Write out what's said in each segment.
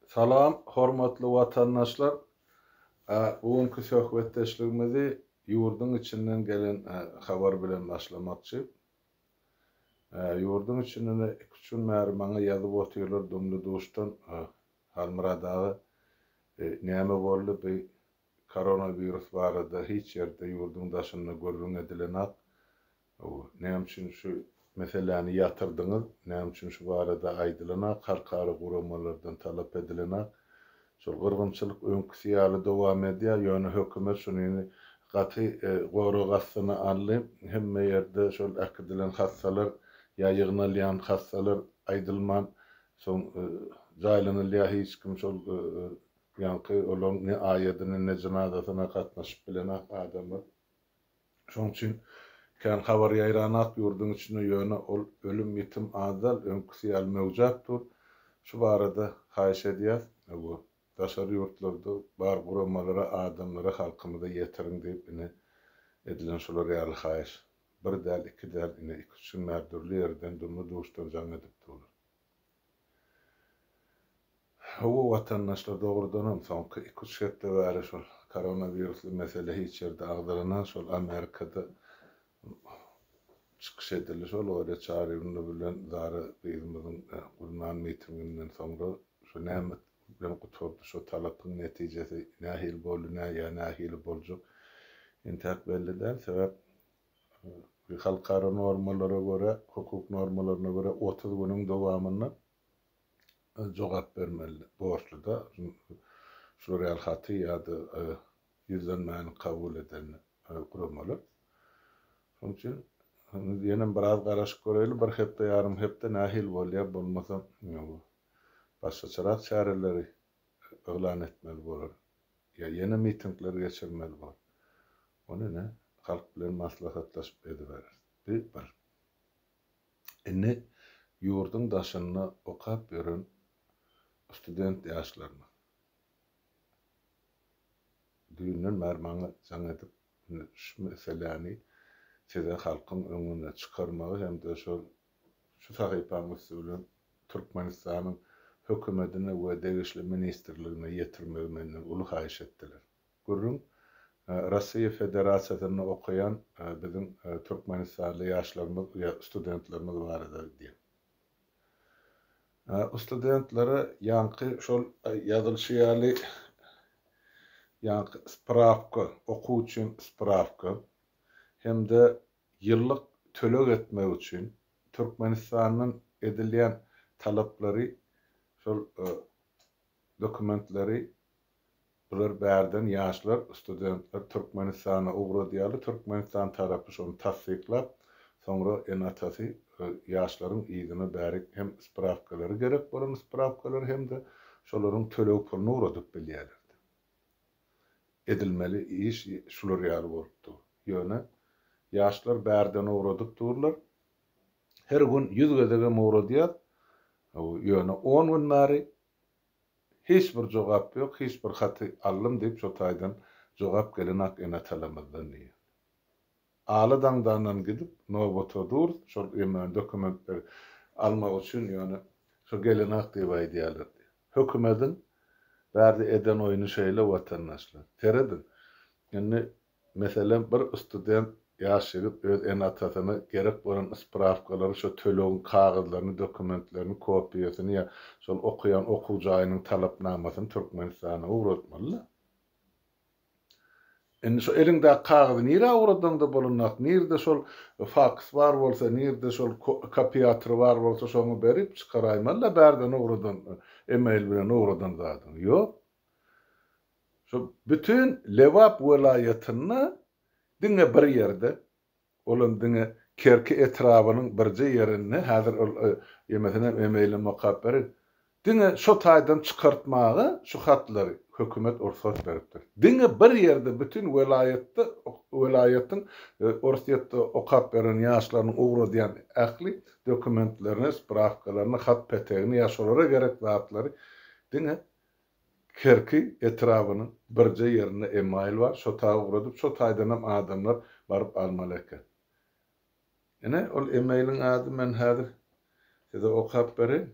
Salam, hormatly watandaşlar! Bu günki söhbetdeşligimizi ýurduň içinden gelen habar bilen başlamakçy. Ýurduň içinden iki üç gün bäri maňa ýazyp otyrlar Dumly duşdan Halmyrat aga näme boldy bu Koronawirus barada hiç ýerde ýurduň daşynda gürrüň edilenak. Näme üçin şu meseläni ýatyrdyňyz? Näme üçin şu barada aýdylanak, halkara guramalardan talap edilenak? Şol gyrgynçylyk öňküsi ýaly dowam edýär, ýöne hökümet şuny indi gaty gorag astyna aldy. Hemme ýerde şol äkidilen hassalar ýa ýygnalýan hassalar aýdylman soň jaýlanylýar, hiç kim şol Ýaňky olaň ne aýadyna, ne jynazasyna gatnaşyp bilen adamy. Şoň üçin kän habar ýaýranat ýurduň içinde, ýöne ol ölüm-ýitim azdal, öňküsi ýaly möwjäp dur. Şu barada haýyş edýäs, öwgo, daşary ýurtlarda bar guramalara, adamlara, halkymyza ýetiriň diýip, ine, edilen şular ýaly haýyş. Bir däl, iki däl, ine, iki-üç gün bäri dürli ýerden, dumly-duşdan jaň edip durlar. Hawa watandaşlar dogrudanam soňky iki üç hepde bäri şol koronawirusly mesele hiç ýerde agzalanan şol Amerikada çykyş edildi şol Olýa Çaryýewna bilen Zara gyzymyzyň gurnan mitinginden soňra şu näme bilen gutardy şo talapyň netijesi nähili boldy näýa nähili boljak entäk belli däl sebäp Halkara normalara görä, hukuk normalaryna görä otuz günüň dowamynda jogap bermeli borçluda şular ýaly haty ýa-da ýüzlenmäni kabul eden guramalar. Şonuň üçin ýenem biraz garaşyp göreýli, bir hepde, ýarym hepde nähili bolýar, bolmasa başgaçarak çäreleri yglan etmeli bolar ýa ýene mitingler geçirmeli bolar. Ony ine, halk bilen maslahatlaşyp edibereris, diýip bir. Indi ýurduň daşynda okap ýören student ýaşlaryna düýnden bäri maňa jaň edip, indi şu meseläni size halkyň öňüne çykarmagy hem-de şol şu sahypaň üsti bilen Türkmenistanyň hökümetine we degişli ministrligine ýetirmegi menden uly haýyş etdiler. Gürrüň Russiýa Federasiýasynda okaýan biziň türkmenistanly ýaşlarymyz ýa studentlerimiz barada gidýär. O studentlere ýaňky şol ýazylyşy ýaly ýaňky sprawka, okuw üçin sprawka hem-de ýyllyk töleg etmek üçin Türkmenistandan edilýän talaplary şol dokumentleri Bular bärden ýaşlar, studentler Türkmenistana ugradýarlar, Türkmenistan tarapy şony tassyklap, soňra ene-atasy ýaşlaryň yzyna bärik hem sprawkalary gerek bolan sprawkalary hem-de şolaryň töleg puluny ugradyp bilýärler diýip. Edilmeli iş şular ýaly bolup dur. Ýöne ýaşlar bärden ugradyp durlar. Her gün ýüz gezegem ugradýas. Ýöne on gün bäri Hiç bir jogap ýok, hiç bir haty aldym diýip şo taýdan jogap gelenok ene-atalarymyzdan diýýär. Aly daňdandan gidip nobata durus şol ýöne dokumentleri almak üçin ýöne şo gelenok diýip aýdýarlar diýýär. Hökümediň bärde eden oýny şeýle watandaşlar. Serediň. Indi Meselem, bir student ýaş ýigit öz ene-atasyna gerek bolan sprawkalary, şo tölegiň kagyzlaryny, dokumentlerini, kopiýasyny ýa şol okaýan okuw jaýynyň talapnamasyny Türkmenistana ugratmaly-da. Indi şo eliňdäki kagyzy nirä ugradaňda bolanok, nirde şol faks bar bolsa, nirde şol kopiýatory bar bolsa, şoňa berip, çykaraýmaly-da bärden ugradan, email bilen ugradan zadyňy. Ýok. Şu bütin Lebap welaýatynda diňe bir ýerde, olam diňe Kerki etrabynyň birje ýerinde, häzir ol ýemesenem emeýinden mokap berin, diňe şo taýdan çykartmaga şu hatlary hökümet rugsat beripdir. Diňe bir ýerde bütin welaýatda, welaýatyň Orsýetde okap beren ýaşlarynyň ugradýan ähli dokumentlerini, sprawkalaryny, hat-petegini ýa şolara gerek zatlary diňe Kerki etrabynyň birje ýerinde email bar, şo taýa ugradyp, şo taýdanam adamlar baryp almaly eken. Ine, ol emailiň ady men häzir size okap bereýin.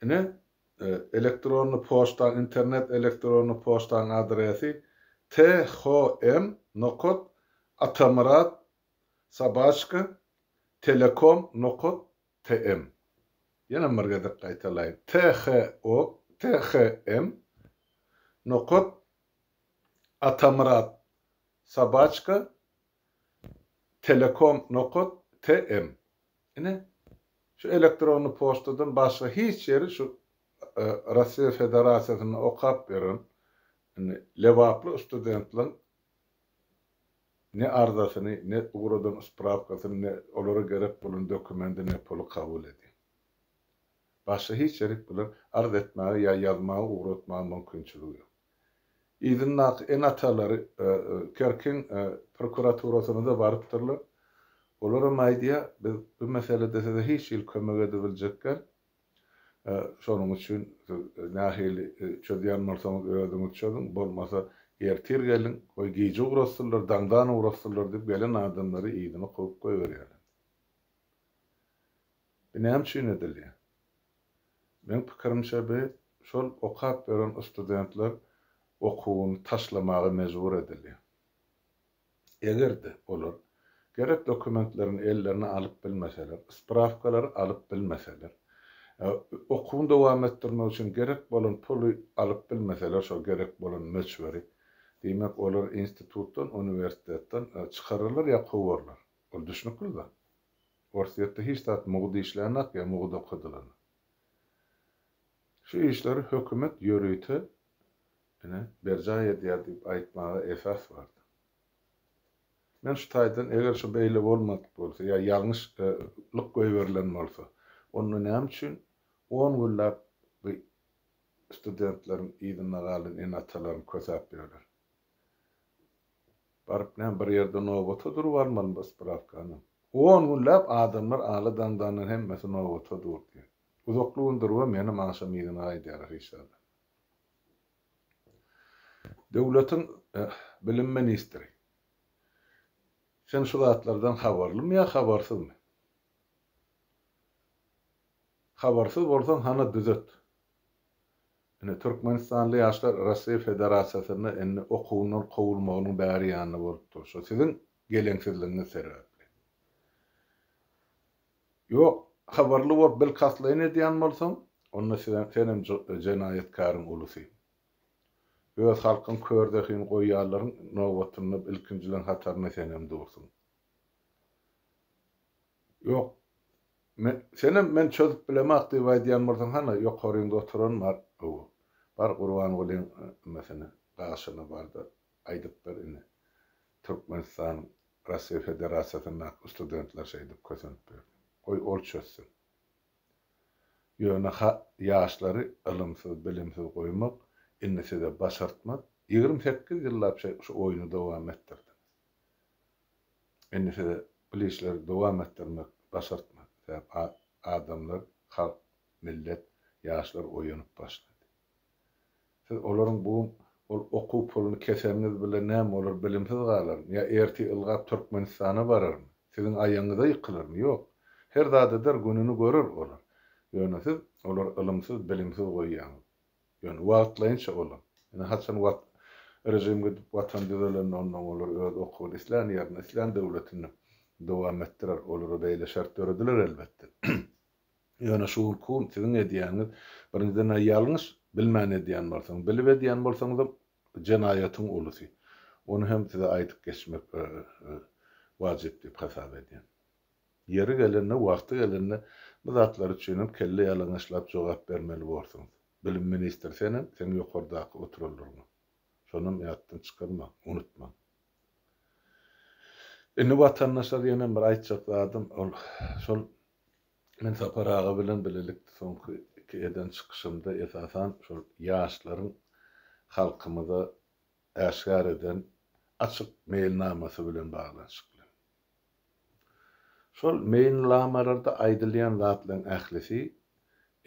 Ine, elektronny poçtaň, internet elektronny poçtaň adresi, THM nokat Atamyrat sobaçka Telekom nokat TM. Ýene bir gezek gaýtalaýyn. THO, THM, Nokat, Atamyrat, Sobaçka, Telekom, Nokat, TM. Ine, şu elektronly poçtadan başga hiç ýeri şu Russiýa Federasiýasynda okap ýören indi lebaply studentleriň ne arzasyny, ne ugradan sprawkasyny, ne olara gerek bolan dokumendi, ne puly kabul edýär. Başga hiç ýerik bilen arz etmäge ýa ýazmaga ugratmaga mümkinçiligi ýok. Yzyndaky ene-atalary Kerkiň prokuraturasyna-da barypdyrlar. Olar hem aýdýar, biz bu meselede size hiç hili kömek edibiljek däl, Şonuň üçin siz nähili çözýän bolsaňyz özüňiz çözüň, bolmasa ertir geliň, goý gije ugratsynlar, daňdan ugratsynlar diýip gelen adamlary yzyna kowup goýberýärler. Bu näme üçin edilýär? Meň pikirimçe bu şol okap ýören studentler okuwyny taşlamaga mejbur edilýär. Eger-de, olar gerek dokumentlerini ellerine alyp bilmeseler, sprawkalary alyp bilmeseler, okuwyny dowam etdirmek üçin gerek bolan puly alyp bilmeseler, şol gerek bolan möçberi, diýmek, olar institutdan, uniwersitetden çykararlar ýa kowarlar. Ol düşnükli zat. Orsýetde hiç zat mugt işlänok ýa mugt okadylany. Şu işleri hökümet ýörite Ine, berjaý edýär diýip aýtmaga esas bardy. Men şu taýdan eger şu beýle bolmadyk bolsa ýa ýalňyş lyk goýberilen bolsa, onda näme üçin on günläp bu studentleriň yzynda galan ene-atalaryň kösäp ýörler? Baryp näme bir ýerde nobata durup almalymy spravkanam? On günläp adamlar ala daňdandan hemmesi nobata durdy. Uzakly gün durubam menem agşam yzyna gaýdýarys işlerden. Döwletiň bilim ministri, sen şu zatlardan habarlymy ýa habarsyzmy? Habarsyz bolsaň hana düzet. Ine türkmenistanly ýaşlar Russiýa Federasiýasynda indi okuwyndan kowulmagynyň bäri ýanynda bolup dur, şu siziň geleňsizligiňiz sebäpli. Ýok, habarly bolup bilkastlaýyn edýän bolsaň, onda siz senem jenaýatkaryň ulusy. Öz halkyň kör zehin goýýarlaryň nobatynda ilkinjileň hatarynda senem dursuň. Ýok, men senem men çözüp bilemok diýip aýdýan bolsaň hany ýokaryňda oturan bar gowy. Bar Gurbangulyň nimesine, daşyna bar-da aýdyp bir ine. Türkmenistanyň Russiýa Federasiýasyndaky studentler şeýdip kösenip berdi. Goý ol çözsün. Ýöne ha ýaşlary ylymsyz, bilimsiz goýmak indi size başartmaz. Ýigrimi sekiz ýyllap şe şu oýny dowam etdirdiňiz. Indi size bul işleri dowam etdirmek başartmaz. Sebäp a adamlar, halk, millet, ýaşlar oýanyp başlady. Siz olaryň bu ol okuw puluny keseňiz bile näme olar bilimsiz galarmy ýa ertir ylgap Türkmenistana bararmy siziň aýagyňyza ýykylarmy ýok her zat eder gününi görer olar ýöne siz olary ylymsyz bilimsiz goýýaňyz ýöne wagtlaýynça olar ine haçan wat režim gidip watan düzelende ondan olar öz okuwyny islän ýerinde islän döwletinde dowam etdirer olara beýle şert dörediler elbetde. Ýöne şu günki gün siziň edýäniňiz, birinjiden-ä ýalňyş, bilmän edýän bolsaň, bilip edýän bolsaňyzam jenaýatyň ulusy. Ony hem size aýdyp geçmek wajyp diýip hasap edýän. Ýeri gelende, wagty gelende bu zatlar üçinem kelle ýalaňaçlap jogap bermeli borsuňyz. Bilim ministri senem, seň ýokardaky oturanlaryňam. Şonam ýatdan çykarmaň, unutmaň. Indi watandaşlar ýenem bir aýtjak zadym, ol şol Men Sapar aga bilen bilelikde soňky iki eden çykyşymda esasan şol ýaşlaryň halkymyza äşgär eden açyk meýilnamasy bilen baglanyşykly. Şol meýilnlamalarda aýdylýan zatlaryň ählisi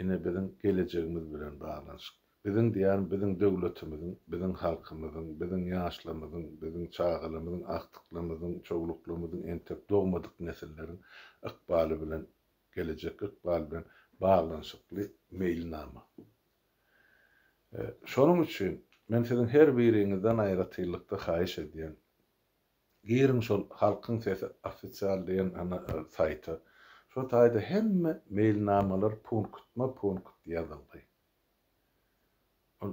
ine biziň gelejegimiz bilen baglanyşykly. Biziň diýýän biziň döwletimiziň, biziň halkymyzyň, biziň ýaşlamyzyň, biziň çagalamyzyň, agtyklymyzyň, çowluklymyzyň entek dogmadyk nesilleriň ykbaly bilen, gelejek ykbaly bilen baglanyşykly meýilnama. Şonuň üçin men siziň her biriňizden aýratynlykda haýyş edýän, giriň şol Halkyň sesi ofisial diýen saýta, şo taýda hemme meýilnamalar punktma-punkt ýazylgy. Ol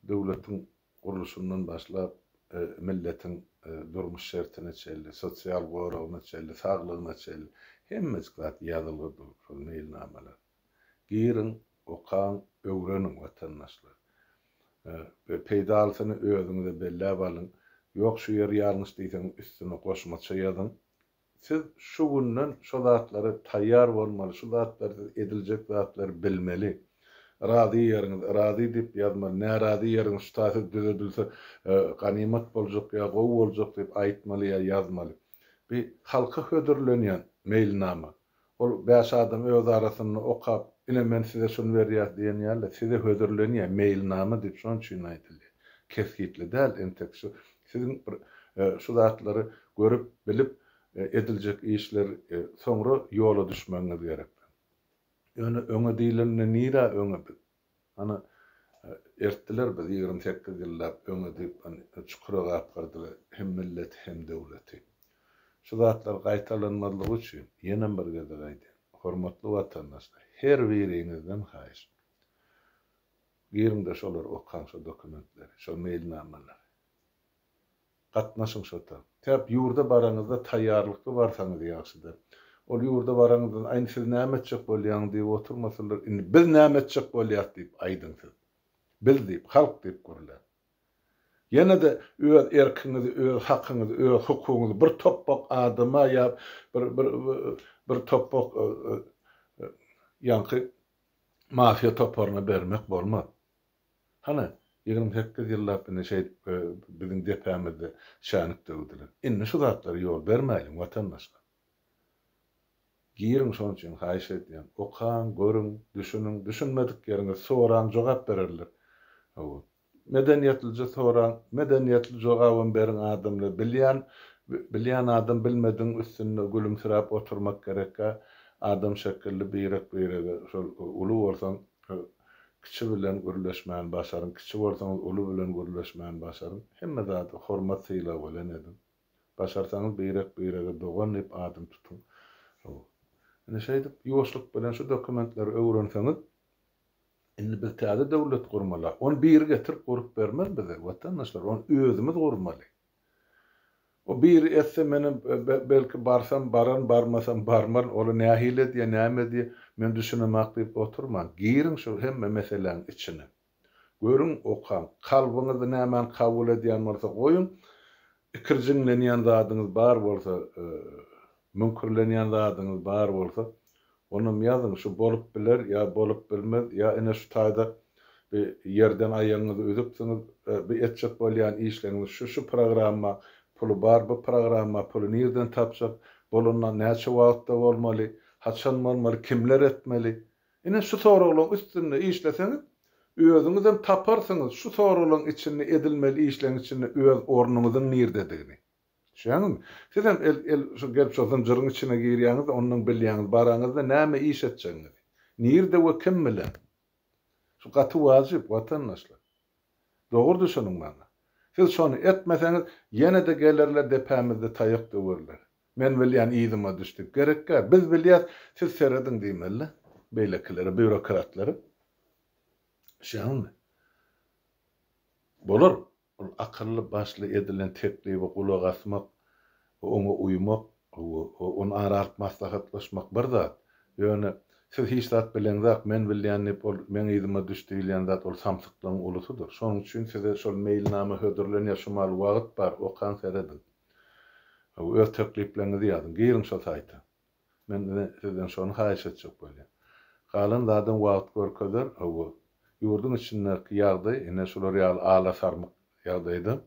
döwletiň gurluşyndan başlap, milletiň durmuş şertine çenli, sosial goragyna çenli, saglygyna çenli hemmejik zat ýazylgy dur şol meýilnamalar. Giriň, okaň, öwreniň watandaşlar. We peýdalysyny özüňize belläp alyň. Ýok şu ýeri ýalňyş diýseňiz üstüne goşmaça ýazyň. Siz şu günden şo zatlara taýýar bolmaly, şu zatlar siz ediljek zatlar bilmeli. Razy ýeriňiz, razy diýip ýazmaly, närazy ýeriňiz, şu ta siz düzedilse ganymat boljak ýa gowy boljak diýip aýtmaly ýa ýazmaly. Bi halka hödürlenýän meýilnama. Ol bäş adam öz arasynda okap, ine men size şuny berýäs diýen ýaly, size hödürlenýär, meýilnama diýip şonuň üçin aýdylýar. Kesgitli däl, entek şu, siziň bir şu zatlary görüp, bilip, ediljek işler, soňra ýola düşmegiňiz gerek. Ýöne öňe diýlende nirä öňe biz? Hany, ertdiler bizi ýigrimi sekiz ýyllap öňe diýip çukura gapgyrdylar hem milleti hem döwleti. Şu zatlar gaýtalanmazlygy üçin ýenem bir gezek aýdýan, hormatly watandaşlar, her biriňizden haýyş, giriňde şolary okaň şu dokumentleri, şo meýilnamalary. Gatnaşyň şota. Täp ýurda baraňyzda taýýarlykly barsaňyz ýagşyda. Ol ýurda baraňyzdan aýn siz näme etjek bolýaň diýip oturmasalar indi biz näme etjek bolýak diýip aýdyň siz. Biz diýip halk diýip gürläň. Ýene-de öz erkiňizi öz hakyňyzy öz hukugyňyzy bir topbak adama ýa bir bir bir topbak ýaňky mafiýa toparyna bermek bolmaz. Hany, ýigrimi sekiz ýyllap indi şeýdip biziň depämizde şänik döwdüler. Indi şu zatlara ýol bermäýliň, watandaşlar. Giriň şonuň üçin haýyş edýän. Okaň, görüň, düşüniň, düşünmedik ýeriňizi soraň, jogap bererler. Hawa. Medeniýetlije soraň, medeniýetli jogabam beriň adamlar. Bilýän, bilýän adam bilmedigiň üstünde gülümsiräp oturmak gerekkä, adam şekilli birek-birege şol uly bolsaň, Kiçi bilen gürleşmän başaryň, kiçi bolsaňyz uly bilen gürleşmän başaryň. Hemme zada hormat sylag bilen ediň. Başarsaňyz birek birege dogan diýip adyn tutuň. Hawa. Indi şeýdip ýuwaşlyk bilen şu dokumentleri öwrenseňiz Indi biz täze döwlet gurmaly. Ony biri getirip gurup bermez bize, watandaşlar. Ony özümiz gurmaly. O biri etse menem belki barsam baran barmasam barman ol nähili edýä näme edýä men düşünemak diýip oturman giriň şu hemme meseläň içine görüň okaň kalbyňyz nämäni kabul edýän bolsa goýuň ikirjiňlenýän zadyňyz bar bolsa Müňkürlenýän zadyňyz bar bolsa, onam ýazyň, şu bolup biler ýa bolup bilmez, ýa ine şu taýda bi ýerden aýagyňyzy üzüpsiňiz, bi etjek bolýan işleňiz şu, şu programma puly bar, bu programma puly nirden tapjak, bolanda näçe wagtda bolmaly, haçan bolmaly, kimler etmeli? Ine şu soraglaň üstünde işleseňiz, özüňizem taparsyňyz şu soraglaň içinde edilmeli işleň içinde öz ornuňyzyň nirdedigini. Düşýäňizmi? Sizem el, el, şu gelip şu zynjyryň içine girýäňiz-de, ondan bilýäňiz, baraňyz-da näme iş etjegiňizi. Nirde we kim bilen? Şu gaty wajyp, watandaşlar. Dogry düşüniň maňa. Siz şony etmeseňiz, ýene-de gelerler depämizde taýak döwerler. Men bilýän, yzyma düş diýip. Gerekkä, biz bilýäs, siz serediň diýmeli-de beýlekilere, býurokratlara. Düşýäňizmi? Bolar. Ol akylly başly edilen teklibe gulak asmak we oňa uýmak, ony ara alyp maslahatlaşmak bir zat, ýöne Siz hiç zat bileňzak, men bilýän diýip ol meň yzyma düş diýilýän zat ol samsyklygyň ulusydyr. Şonuň üçin size şol meýilnama hödürlenýär şu maal wagyt bar okan serediň we öz teklipleriňizi ýazyň. Giriň şo saýta. Men ine sizden şony haýyş etjek bolýan. Galan zadam wagt görkezer, hawa, ýurduň içindäki ýagdaý ine şular ýaly ala-sarmyk ýagdaýda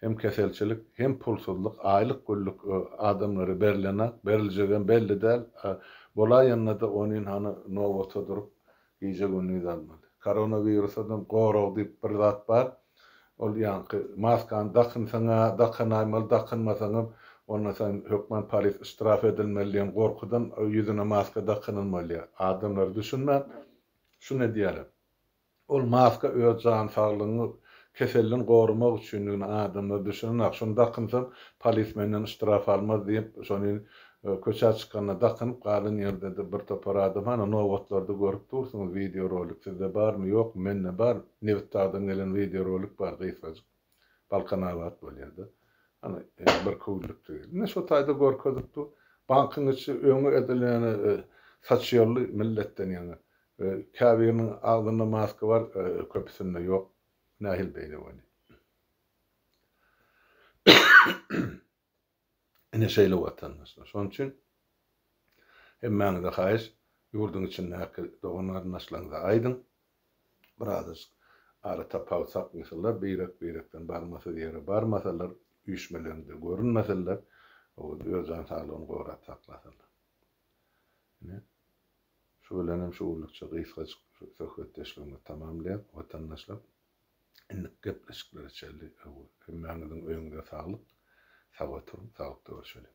hem keselçilik, hem pulsuzlyk, aýlyk-güllük adamlara berilenak, beriljegem belli däl, bolaýanda-da onin hany nobata durup, Gije gündiz almaly. Koronawirusadan gorag diýip bir zat bar. Ol ýaňky maskany dakynsaň-a, dakanaýmaly, dakynmasaňam onda sen hökman polis yştraf edilmeli diýen gorkudan ýüzüne maska dakynylmaýar. Adamlar düşünmän şuny edýärler. Ol maska öz jan saglygyňy keselden goramak üçindigini adamlar düşünenok. Şuny dakynsaň polis menden yştraf almaz diýip şony Köçä çykanda dakynyp galan ýerde-de bir topar adam hany nobatlarda görüp dursuňyz wideo rolik sizde barmy ýokmy mende bar Nebitdagdan gelen wideo rolik bar gysgajyk Balkanabat bolýada hany bir köwlükdi ine şo taýda görkezip dur bankyň içi öňi edil ýöne saçy ýolly milletden ýaňa käbiriniň agzynda maska bar köpüsinde ýok nähili beýle bolýa. Ine şeýle watandaşlar. Şonuň üçin hemmäňize haýyş, ýurduň içindäki dogan-garyndaşlaryňyza aýdyň, birazajyk ara tapawut saklasynlar, beýrek-beýrekden barmasyz ýere barmasalar, üýşmelerinde görünmeseler, owez öz jan saglygyny gorap saklasalar. Ine, şu bilenem şu günlükçe gysgajyk şu söhbetdeşligimizi tamamlaýas, watandaşlar. Indik gepleşiklere çeldi öwür. Hemmäňiziň öýüňize saglyk. Sag oturyň, saglykda görşeliň.